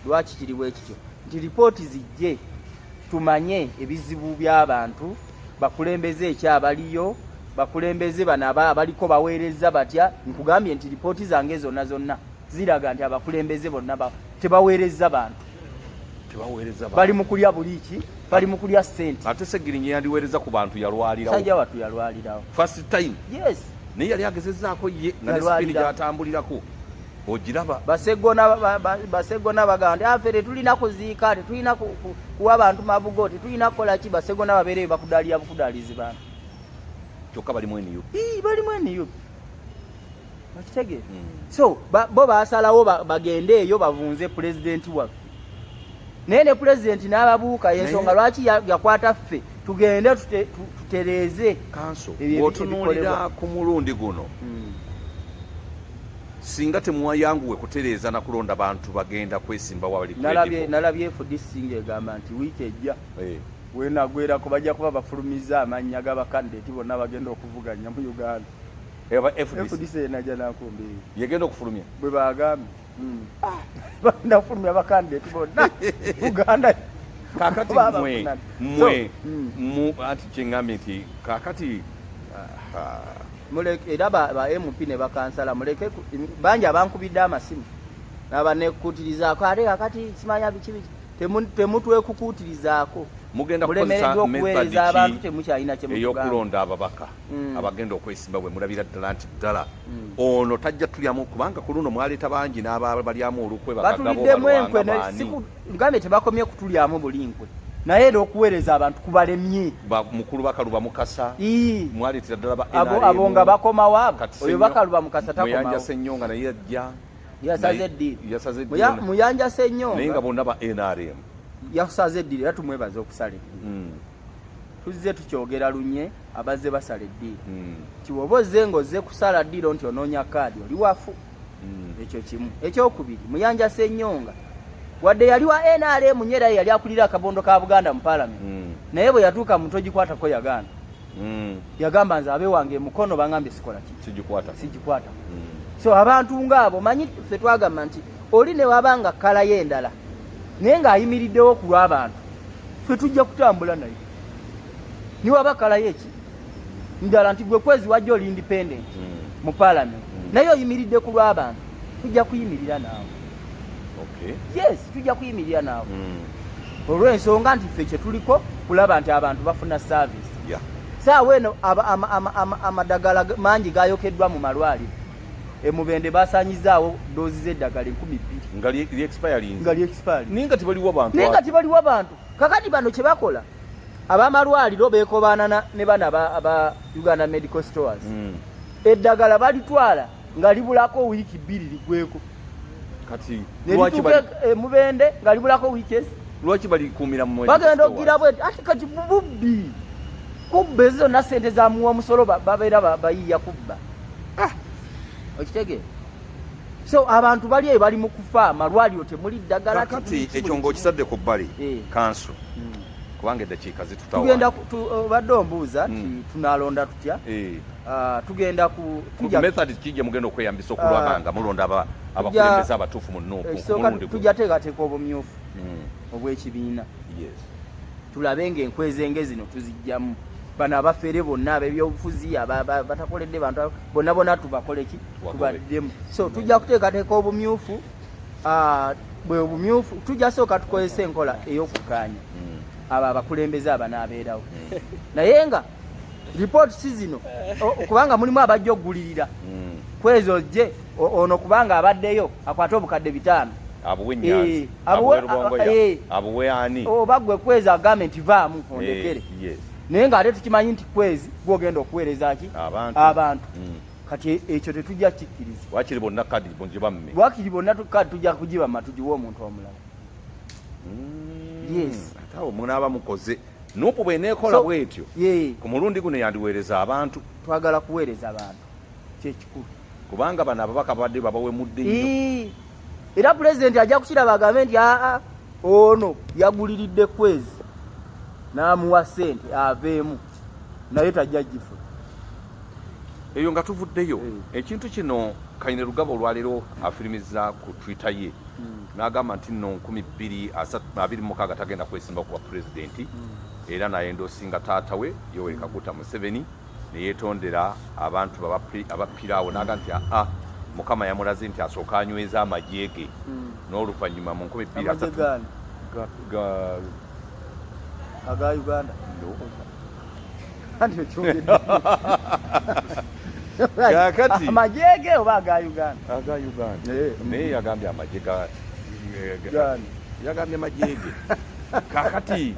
lwaki kiri bwekityo nti lipooti zijje tumanye ebizibu by'abantu bakulembeze ekyo abaliyo bakulembeze bano abaliko baweereza batya nkugambye nti lipooti zange zonna zonna ziraga nti abakulembeze bonna tebaweereza bantu bali mu kulya buliiki bali mu kulya sente ate segirinyi yandiweereza ku bantu yalwalirawo sajja watu yalwalirawo first time yes naye yali agezezaako ye nga ne sipini gyatambulirako ogiraba basegona bagamba nti afe ah, tetulina kuziika tetulina kuwa bantu mabugo tetulina kukola ki basegona babeereyo bakudaalira bukudalizi bantu kyokka balimu nup balimu nup okitege hmm. so bo basalawo bagende eyo bavunze pulezidenti waffe naye ne pulezidenti n'ababuuka yensonga lwaki yakwata ffe tugende tutereeze kanso otunulira ku mulundi guno hmm. singa temuwayanguwe kutereeza na kulonda bantu bagenda kwesimba wali nalabye fdc ng'egamba nti wiiki ejja hey. Eh. wenagwerako bajja kuba bafulumiza amannya g'abakandideti bonna bagenda okuvuganya mu uganda eh, fdc enaja nakumbi yegenda okufulumya bwe bagambye hmm. ah. bagenda kufulumya abakandideti bonna uganda kakati mwe mwe hmm. anti kyengambye nti kakati ah, ah. muleke era ba, ba MP ne bakansala muleke bangi abankubidde amasimu nabanekutirizaako ate kakati simanya biki biki temutwekukuutirizaako mugenda kukozesamulemereddwa okuweereza abantu temukyalina kyeyokulonda ababaka mm. abagenda okwesimba bwe mulabira ddala nti ddala mm. ono tajja tulyamu kubanga ku luno mwaleeta bangi n'ababalyamu olukwe bakagabo balwanga baani Uganda tebakomye kutulyamu bulinkwe naye era okuweereza abantu kubalemye mukulu bakaluba mukasa mwaleetera ddala ba abo nga bakomawo abo oyo bakaluba mukasa takomamuyanja sennyo nga naye ajja yasaze eddiiro muyanja sennyo naye nga bonna ba nrm yasaze eddiiro era tumwebaza okusala eddiiro hmm. tuzze tukyogera lunye abazze basala eddiiro hmm. kiwoba ozze nga ozze kusala ddiiro nti onoonya kaadi oli wafu mm. ekyo kimu ekyokubiri muyanja senyonga wadde yali wa nrm nyo era yali akulira akabondo ka buganda mu palamenti mm. naye bwe yatuuka muntu ogikwatako yagaana mm. yagamba nze abe wange mukono bangambye sikola sigikwata so abantu ngaabo manyi fe twagamba nti oli newaba nga kalayo endala naye ng'ayimiriddewo ku lw'abantu fe tujja kutambula naye niwaba kalayo eki ndala nti gwe kwezi wajja oli independent mm. mu parliament mm. naye oyimiridde ku lw'abantu tujja kuyimirira naawe okay. yes tujja kuyimirira naawe mm. olw'ensonga nti ffe kye tuliko kulaba nti abantu bafuna service yeah. saawa eno amadagala mangi gayokeddwa mu malwaliro emubende basanyizaawo doozi z'eddagala enkumi bbiri nga lyexpire naye nga tibaliwo bantu kakati bano kye bakola abamalwaliro bekobaanana ne bana aba uganda medical stores mm. eddagala balitwala nga libulako wiiki bbiri ligweko e, mubende nga libulako wiiki ezi lwaki balikuumira mu bagenda okugira bweti ati kati bubbi kubba ezo zonna sente zamuwa omusolo babeera bayiiya kubba ah! okitegeera so abantu bali eyo bali mu kufa amalwaliro temuli ddagala kati ekyo ngaokisadde ku bbali eh. kanso hmm. kubanga eddakiika zitutawatugenda obadde oh, ombuuza nti hmm. tunalonda tutya eh. ah, tugenda kumethod kijja mugenda okweyambisa okulwaba ah. nga mulonda abakulembeza abatuufu mu nuupu eh, tujja teekateeka obumyufu hmm. obw'ekibiina tulabe nga enkwezenge zino tuzijjamu bano abafere bonna abebyobufuzi batakoledde bantu bonna bona tubakoleki tubaddemu so tujja kuteekateeka obumyufu ah, bwe obumyufu tujja sooka tukozesa enkola ey'okugaanya hmm. abo abakulembeze abanaabeerawo hmm. naye nga ripooti si zino kubanga mulimu abajja okugulirira hmm. kwezo je ono kubanga abaddeyo akwate obukadde bitaano abuwe nyanzi abuwe eh, abuwe eh, eh. ani obagwe oh, kwezi agambe nti vaamu ondekere naye nga ate tukimanyi nti kwezi gwogenda okuweereza ki abantu mm. kati e-, ekyo tetujja kikkiriza wakiri bonna kadi mugiba mme wakiri bonna kadi tujja kugiba ma tugiwe omuntu omulala mm, yes ate awo munaaba mukoze nupu bweneekola bwetyo ku mulundi guno yandiweereza abantu twagala kuweereza abantu kyekikulu kubanga bano ababaka babadde babawemudde nnyo era pulezidenti ajja kukiraba agambe nti aa ono yaguliridde kwezi n'amuwa ssente aveemu naye tajja gifu eyo nga tuvuddeyo mm. ekintu kino kaine lugaba olwaleero afirimiza ku twitter ye mm. n'agamba nti no nkumi bbiri abiri mukaaga tagenda kwesimba kuba pulezidenti mm. era naye ndosinga taata we yoweri kaguta museveni neyetondera abantu abappiraawo naga nti aa mukama yamulaze nti asooka anyweza amagye ge mm. n'oluvannyuma mu nkumi bbiri aga Uganda kakati amajege oba aga Uganda aga Uganda eh. naye yagambye amaje ga eh, yagambye majege kakati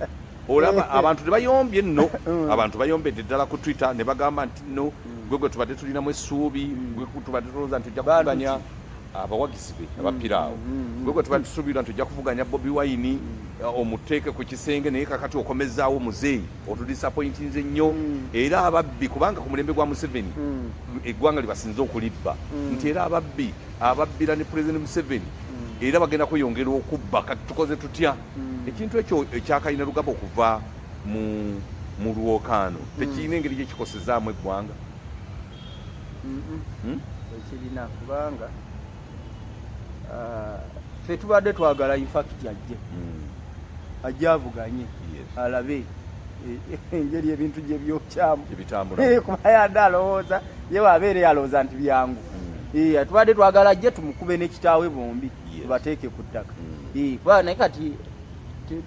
olaba eh. abantu tebayombye nno mm. abantu bayombedde ddala ku twitter ne bagamba nti no mm. gwe gwe tubadde tulinamu essuubi mm. gwe tubadde tulowooza nti ojja kukuganya abawagizi be mm, abapira awo mm, mm, gwegwe tuba tusuubira nti ojja kuvuganya bobi wayini uh, omuteeke ku kisenge naye kakati okomezaawo muzeeyi otudisapointinze nnyo era ababbi kubanga ku mulembe gwa museveni eggwanga libasinze okulibba nti era ababbi ababbira ne pulezidenti museveni era bagenda kweyongera okubba kati tukoze tutya ekintu ekyo ekyakalina lugaba okuva mu lwokaano tekirina engeri gyekikosezaamu eggwanga Hmm? ekirina kubanga ah, fe tubadde twagala infakiti ajje hmm. ajje avuganye alabe e, engeri ebintu gye byokyamu eh, kuba yadde alowooza ye wabeere yalowooza nti byangu hmm. eh, tubadde twagala ajje tumukube n'ekitaawe bombi tubateeke ku ttaka eh, kuba naye kati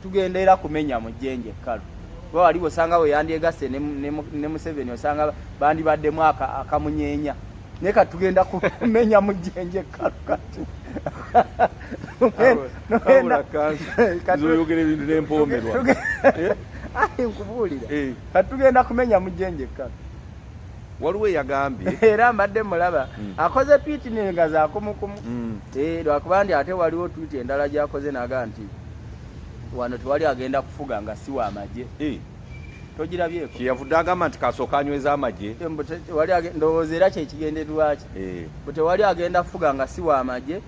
tugenda era kumenya mu jjenje ekkalu kuba wali osanga we yandyegasse ne museveni osanga bandibaddemu akamunyeenya naye kati tugenda kumenya mu jjenje ekkalu kati oyogera ebintu nempomerwa eh? nkubuulira eh. kati tugenda kumenya mu jjenje ekkalu waliwo eyagambye era mbadde mulaba mm. akoze twiti nenga zakumukumu mm. eh, lwakuba ndi ate waliwo twiti endala gyakoze naga nti wano tewali agenda kufuga nga si wa magye eh. togirabyeko kyeyavudde agamba nti kasooka anyweza amagye eh, ndowooza era kyekigenderwaki bu tewali agenda kufuga nga si wa magye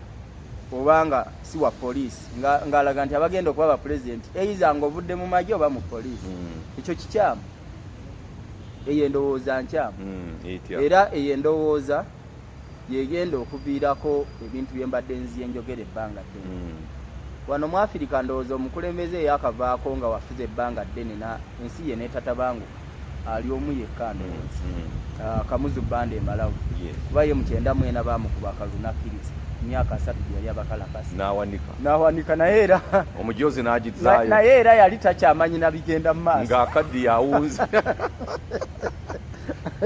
obanga si wa poliisi ng'alaga nti abagenda okuba bapulezidenti eiza nga ovudde mu magye oba mu poliisi mm. ekyo kikyamu eyo endowooza nkyamu hmm, era eyo endowooza yegenda okuviirako ebintu bye mbadde nziye njogera ebbanga ddene hmm. wano mu afirika ndowooza omukulembeze eyakavaako nga wafuze ebbanga ddene na ensi ye netatabanguka ali omu yekka hmm, ndowooza ah, kamuzu banda emalawu kuba ye mukyenda mwena bamukuba kalunakiriza emyaka asatu gyeyali abakalakasi nawanika naye era omujozi nagizayo naye era yali takyamanyi nabigenda mu maaso nga akaddi yawunze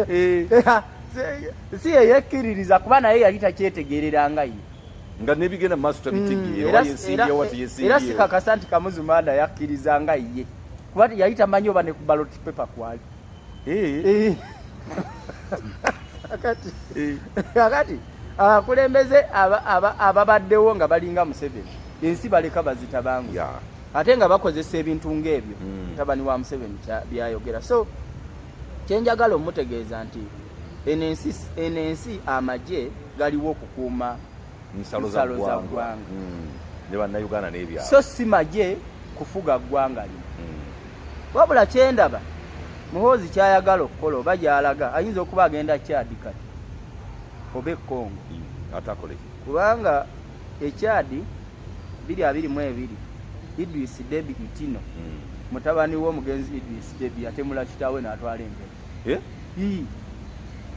eh. si yeyekkiririza kuba naye yali takyetegerera nga ye nga nebigenda mu maaso tabitegeera mm, era sikakasa nti kamuzumanda yakkiriza nga ye kuba yali tamanyi oba ne ku balot paper kwali Eh. Eh. akati eh. akati abakulembeze ababaddewo nga balinga Museveni ensi baleka bazita bangu ate nga bakozesa ebintu ng'ebyo hmm. mutabani wa Museveni byayogera so kyenjagala omutegeeza nti eno ensi amagye galiwo okukuuma nsalo za ggwanga hmm. ne bannayuganda n'ebyalo so si magye kufuga ggwanga lino hmm. wabula kyendaba muhoozi kyayagala okukola oba gyalaga ayinza okuba agenda kyadi kati oba ekongo hmm. atakole kubanga ekyadi biri abiri mu ebiri idris debi itino mutabani w'omugenzi idris debi atemula kitaawe n'atwala embere eh?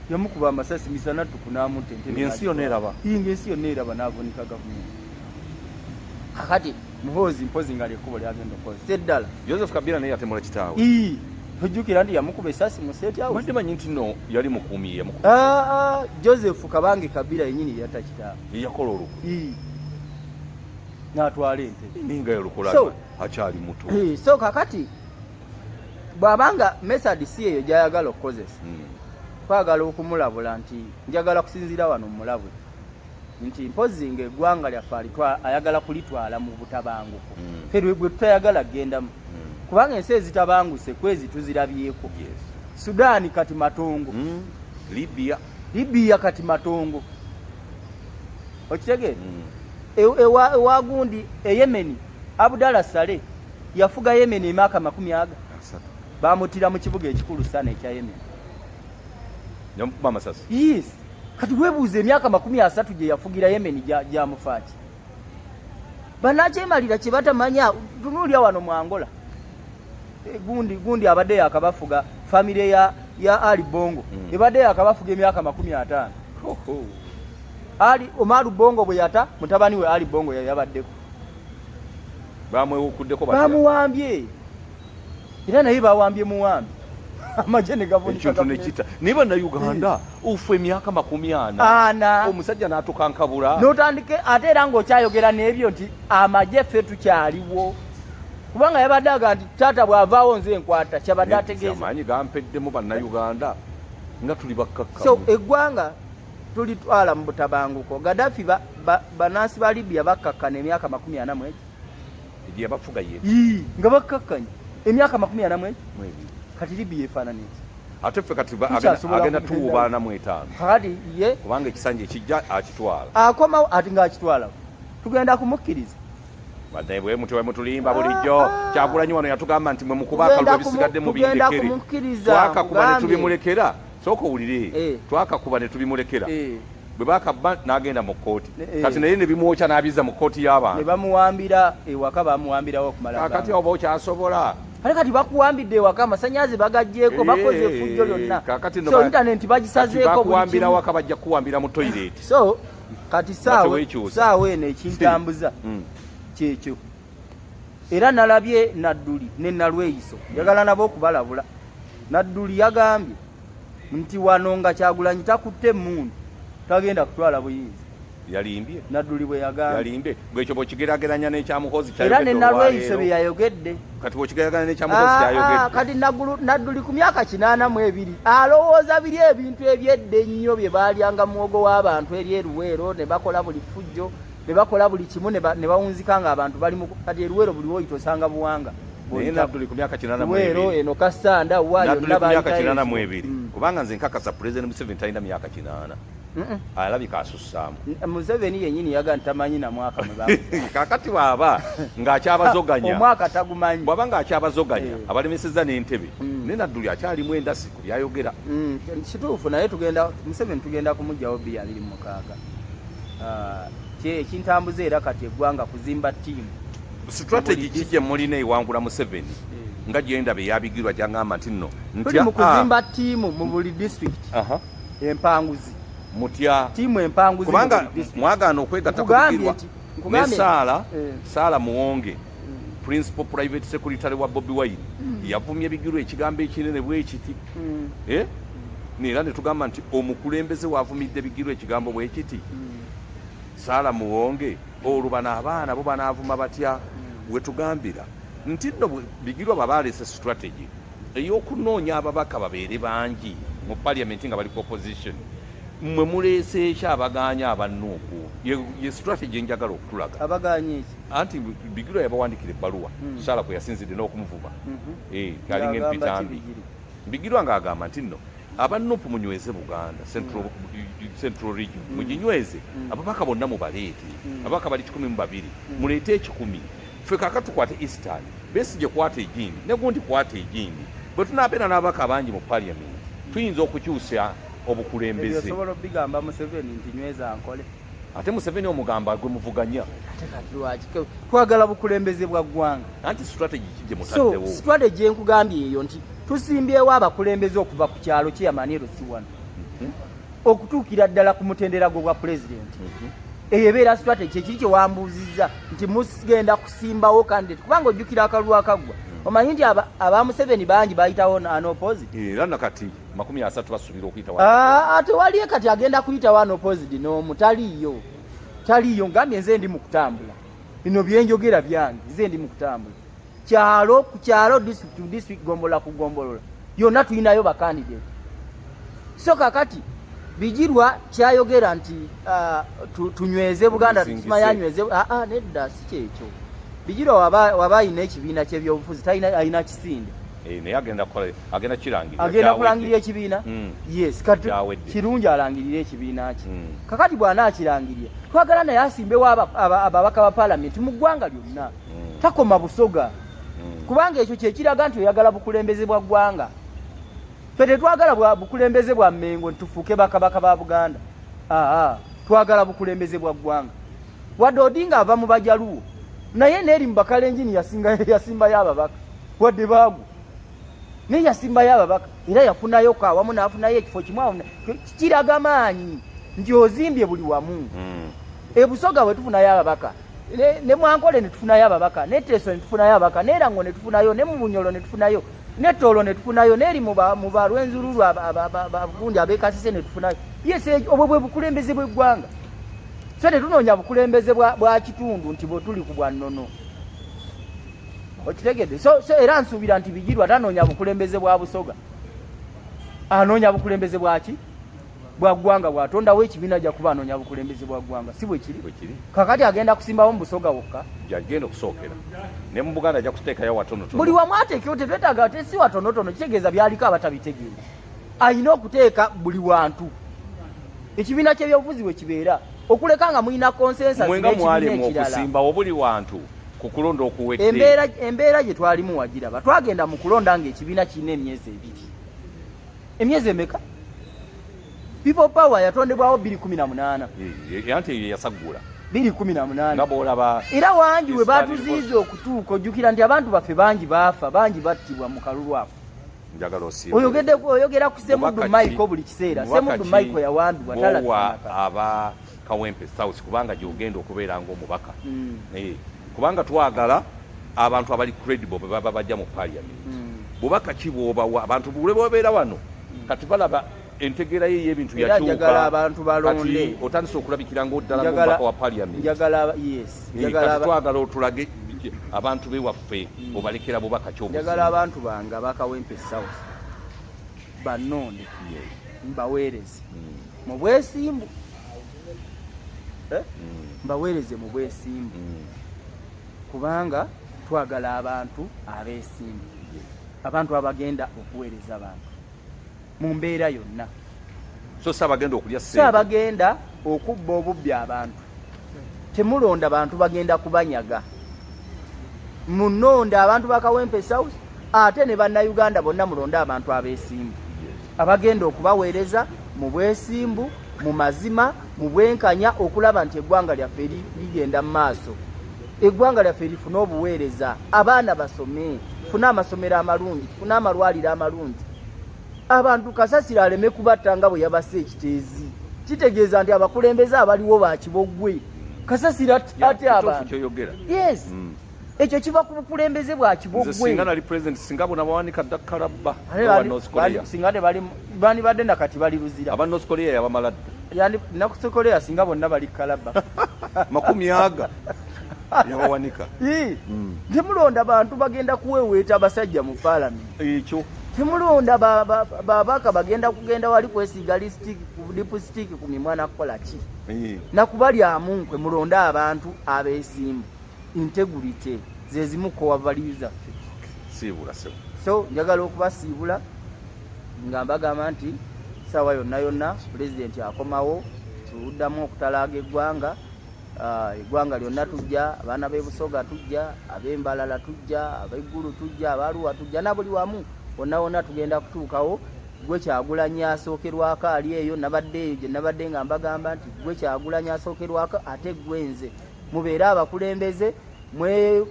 yamukuba amasasi misana ttuku n'amutta entebe ng'ensi yonna eraba ng'ensi yonna eraba n'avunika gavumenti kakati muhoozi mpozi nga lyekkubo lyagenda okukozesa eddala joseph kabira naye yatemula kitaawe ojjukira nti yamukuba esasi musetyabadde manyi nti no yali mukuumi yamukuba ah, ah, joseph kabange kabira yenyini yeyata kitaawe yeyakola oluku natwala ente ninga yalukula akyali muto eh, so kakati bw'aba nga mesadi si eyo gy'ayagala okukozesa hmm. kwagala okumulabula nti njagala kusinziira wano mulabule nti mpozi nga eggwanga lyaffe ayagala kulitwala mu butabanguko hmm. fe lwegwe tutayagala kugendamu hmm. kubanga ensi ezitabanguse kwezi tuzirabyeko sudaani kati matongo libya libya kati matongo okitegeera e, ewagundi eyemeni abudala sale yafuga Yemen emyaka makumi aga bamutira mu kibuga ekikulu sana ekya Yemen nyamukuba amasasi yes kati webuuza emyaka makumi asatu gye yafugira Yemen gyamufaaki banakyemalira kye batamanya tunuulya wano mu Angola eh, gundi gundi abadde yakabafuga famire ya, ya Ali Bongo mm. ebadde yakabafuga emyaka makumi ataano Ali Omaru Bongo bwe yata mutabani we Ali Bongo yabaddeko bamwewukuddeko bamuwambye era naye bawambye muwambi amagye negavunekintu nekita naye banauganda ufu emyaka makumi ana ana omusajja natukankabula notandike ate era ngaokyayogera nebyo nti amagye ffe tukyaliwo kubanga yabadde aga nti taata bwavaawo nze enkwata kyabadde ategeezaamaanyi gampeddemu banauganda nga tuli bakkakka so eggwanga tulitwala mu butabanguko gadafi banansi ba libya bakkakkana emyaka makumi ana mwegi gyeyabafuga ye nga bakkakkanye emyaka makumi ana mwegi kati libya efaanana eki ate ffe kati agenda tuwubaana mu etaano kati ye kubanga ekisanja ekijja akitwala akomawo ati ngaakitwala tugenda kumukkiriza badde bwe mutyo mutulimba bulijjo ah, ah. kyagulanyi wano yatugamba nti mwe mukuba akalulu ebisigadde mu bindekere twakakuba ne tubimulekera sooka owulire eh. twakakuba ne tubimulekera eh. bwe bakabba n'agenda mu kkooti eh. kati naye ne bimwokya n'abizza mu kkooti y'abantu ne bamuwambira ewaka bamuwambirawo okumala kakati oba okyasobola kale kati bakuwambidde ewaka amasanyazi bagagyeko bakoze efujjo lyonna so intanenti bagisazeeko bakuwambira waka bajja kukuwambira mu toyireti so kati saawa eno ekintambuza mm. kyekyo era nalabye nadduli ne nalweyiso njagala nabo okubalabula nadduli yagambye nti wano nga kyagulanyi takutte emundu tagenda kutwala buyinza yalimbye nadduli bwe yagambye yalimbye gwekyo bwekigerageranya n'ekyamuhozi era ne nalweyiso bye yayogedde kati bwekigerageranya n'ekyamuhozi ah, kyayogedde ah, kati nadduli ku myaka kinaana mu ebiri alowooza biri ebintu ebyedda ennyo bye baalyanga muwogo w'abantu eri eruweero ne bakola buli ffujjo ne bakola buli kimu ne bawunzika nga abantu bali mu kati eruwero buli woyita osanga buwanga naye nabduli ku myaka kinana mwero eno kasanda wayo nabduli ku myaka kinana mwebiri mm. kubanga nze nkakasa president museveni talina myaka kinana alabika asusaamu museveni yenyini yaga ntamanyi na mwaka kakati bwaba ngaakyabazoganya omwaka tagumanyi bwaba ngaakyabazoganya eh. abalemeseza n'entebe mm. naye nadduli akyalimu endasi ku byayogera mm. kituufu naye tugenda museveni tugenda kumugyawo bbi abiri mukaaga ah, kyekintambuza era kati eggwanga kuzimba tiimu strategy ki gye mulina ewangula museveni eh. nga gyenda bye yabigirwa gyangamba nti nno ntya mu ah. kuzimba tiimu mu buli district empanguzi mutya tiimu empanguzi kubanga mwagaana okwegatta kubigirwa ne saala eh. saala muwonge principal private secretary wa Bobby Wine mm. yavumye bigiro ekigambo ekinene bwekiti mm. eh nera ne tugamba nti omukulembeze wavumidde bigiro ekigambo bwekiti mm. sala muwonge olubana abaana bo banavuma batya mm. wetugambira nti no bigiro babalese strategy eyokunoonya ababaka babeere bangi mu parliament nga bali ku opposition mwe muleeseeki abagaanya abannuuku ye strategy enjagala okutulaga abagaanya eki anti bigirwa yabawandikira ebbaluwa hmm. saala kwe yasinzidde n'okumuvuma mhm. eh, alinga empitambi bigirwa ng'agamba nti nno aba nupu munyweze buganda central hmm. region hmm. muginyweze ababaka bonna mubaleete ababaka bali kikumi mu babiri muleete ekikumi ffe kaka tukwate eastern besigye kwata egindi negundi kwata egindi bwe tunaabeera n'ababaka abangi mu parliament tuyinza okukyusa obukulembeze ate museveni omugamba gwe muvuganya twagala bukulembeze bwa ggwanga anti strategy kigyemutaddewo so strategy enkugambye eyo nti tusimbyewo abakulembeze okuva ku kyalo kyeyamaniero si wano mhm. okutuukira ddala ku mutendera gwo bwa pulezidenti mhm. eyo ebeera strategy ekiri kyewambuuzizza nti mugenda kusimbawo kandidat kubanga ojjukira akalulu akaggwa mhm. omanyi nti aba museveni bangi bayitawo anopozi era nakati makumi asatu basubira okuyita wano ah, ate waliyo kati agenda kuyita wano pozidi n'omu taliiyo taliiyo ngambye nze ndi mu kutambula bino byenjogera byange nze ndi mu kutambula kyalo ku kyalo district to district gombolola ku gombolola yonna tulinayo bakandidate so kakati bijirwa kyayogera nti ah, tunyweze buganda tusima yanyweze ah, ah, nedda si kyekyo bijirwa waba alina ekibiina kyebyobufuzi talina kisinde Eh, naye agenda kukola agenda kirangirira agenda kulangirira ekibiina hmm. yes kati kirungi alangirire ekibiina kye hmm. kakati bw'anaakirangirira twagala naye asimbewo ababaka ba palamenti mu ggwanga lyonna hmm. takoma busoga kubanga ekyo kyekiraga nti oyagala bukulembeze bwa ggwanga fe tetwagala bukulembeze bwa mmengo nitufuuke bakabaka ba buganda aa twagala bukulembeze bwa ggwanga wadde odinga ava mu bajaluwo naye neeri mu bakalenjini yasimbayo ababaka wadde baagu naye yasimbayo ababaka era yafunayo ka wamu n'afunayo ekifo kimu awo kiraga maanyi nti ozimbye buli wamu hmm. ebusoga bwe tufunayo ababaka ne mwankole ne tufunayo ababaka ne teso ne tufunayo ababaka ne erango ne tufunayo ne mubunyolo ne tufunayo ne tolo ne tufunayo ne eri mu balwenzululu abagundi abekasise ne tufunayo yes eh, obwo bwe bukulembeze bw'eggwanga so tetunoonya bukulembeze bwa kitundu nti bwe tuli ku bwannono okitegedde so, so era nsuubira nti bigirwa tanoonya bukulembeze bwa busoga anoonya bukulembeze bwaki bwa ggwanga bwatondawo ekibiina ja kuba anoonya bukulembeze bwa ggwanga si bwekiri kakati agenda kusimbawo mu busoga wokka jagenda okusookera ne mu buganda ajja kuteekayo watonotono buli wamu ateekewo tetwetaaga te si watonotono kitegeeza byaliko abatabitegeera alina okuteeka buli wantu ekibiina ky'ebyobufuzi bwe kibeera okuleka nga mulina consensus mwenga mwali mu kusimba obuli wantu ku kulonda okuwedde embeera embeera gye twalimu wagiraba twagenda mu kulonda nga ekibiina kirina emyezi ebiri emyezi emeka people power yatondebwawo biri kumi na munaana anti eyo yasaggula biri kumi na munaana nga bwolaba era wangi we batuziiza okutuuka ojjukira nti abantu baffe bangi baafa bangi battibwa mu kalulu ako oyogede oyogera ku semudu michael buli kiseera semudu michael yawandibwa talawa aba kawempe south kubanga gyogenda okubeera nga omubaka mm. eh, kubanga twagala abantu abali credible bwe baba bajja mu parliament mm. bubaka ki bwobawa abantu bule babeera wano mm. kati balaba entegeera ye ey'ebintu yakyuka abantu balonde otandise okulabikira ngaoddala ngomubaka wa parliament twagala otulage abantu bewaffe hmm. obalekera bubaka kyojagala abantu bange abakawempe south banonde mbaweereze hmm. mu bwesimbu eh? hmm. mbaweereze mu bwesimbu kubanga twagala abantu abesimbu abantu abagenda okuweereza abantu mu mbeera yonna so si abagenda okulya si abagenda okubba obubbi abantu temulonda bantu bagenda kubanyaga munonda abantu bakawempe south ate ne bannayuganda bonna mulonde abantu abeesimbu abagenda okubaweereza mu bwesimbu mu mazima mu bwenkanya okulaba nti eggwanga lyaffe ligenda mu maaso eggwanga lyaffe lifune obuweereza abaana basome tufune amasomero amalungi tufune amalwaliro amalungi abantu kasasiro aleme kubatta nga bwe yabasa ekiteezi kitegeeza nti abakulembeze abaliwo bakibogwe kasasiro ate abantu yes mm. ekyo kiva ku bukulembeze bwa kibogwesinga tebandibadde nakati bali luzira aba north korea yabamala dda north korea singa bonna bali kalaba makumi aga yabawanika mm. temulonda bantu bagenda kuweweeta abasajja mu palamenti ekyo temulonda babaka bagenda kugenda wali kwesiiga lipusitiiki ku mimwa nakukola ki nakubalyamu nkwe mulonde abantu abesimbu integrity zezimu kowa value zaffe so njagala okubasiibula nga mbagamba nti saawa yonna yonna pulezidenti akomawo tuluddamu okutalaaga eggwanga Ah, eggwanga lyonna tujja abaana b'ebusoga tujja ab'embalala tujja abeggulu tujja abaluwa tujja nabuli wamu wonna wonna tugenda kutuukawo gwe kyagulanyi asookerwako ali eyo nabadde eyo gye nabadde nga mbagamba nti gwe kyagulanyi asookerwako ate gwe nze mubeere abakulembeze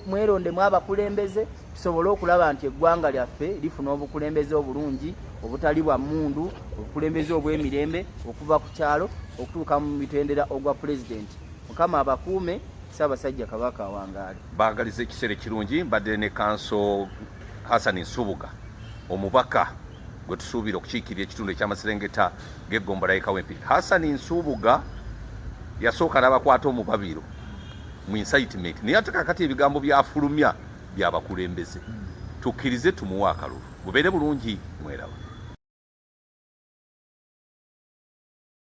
mwerondemu abakulembeze tusobole okulaba nti eggwanga lyaffe lifuna obukulembeze obulungi obutali bwa mundu obukulembeze obw'emirembe okuva ku kyalo okutuuka mu mitendera ogwa pulezidenti mukama abakuume ssaabasajja kabaka awangaale baagaliza ekiseera ekirungi mbadde ne kanso hasani nsubuga omubaka gwe tusuubira okukiikirira ekitundu ekyamaserengeta g'eggombola yekawempi hasani nsubuga yasooka n'abakwata omubabiro mu incitement naye ate kakati ebigambo byafulumya byabakulembeze tukkirize tumuwe akalulu bubeere bulungi mweraba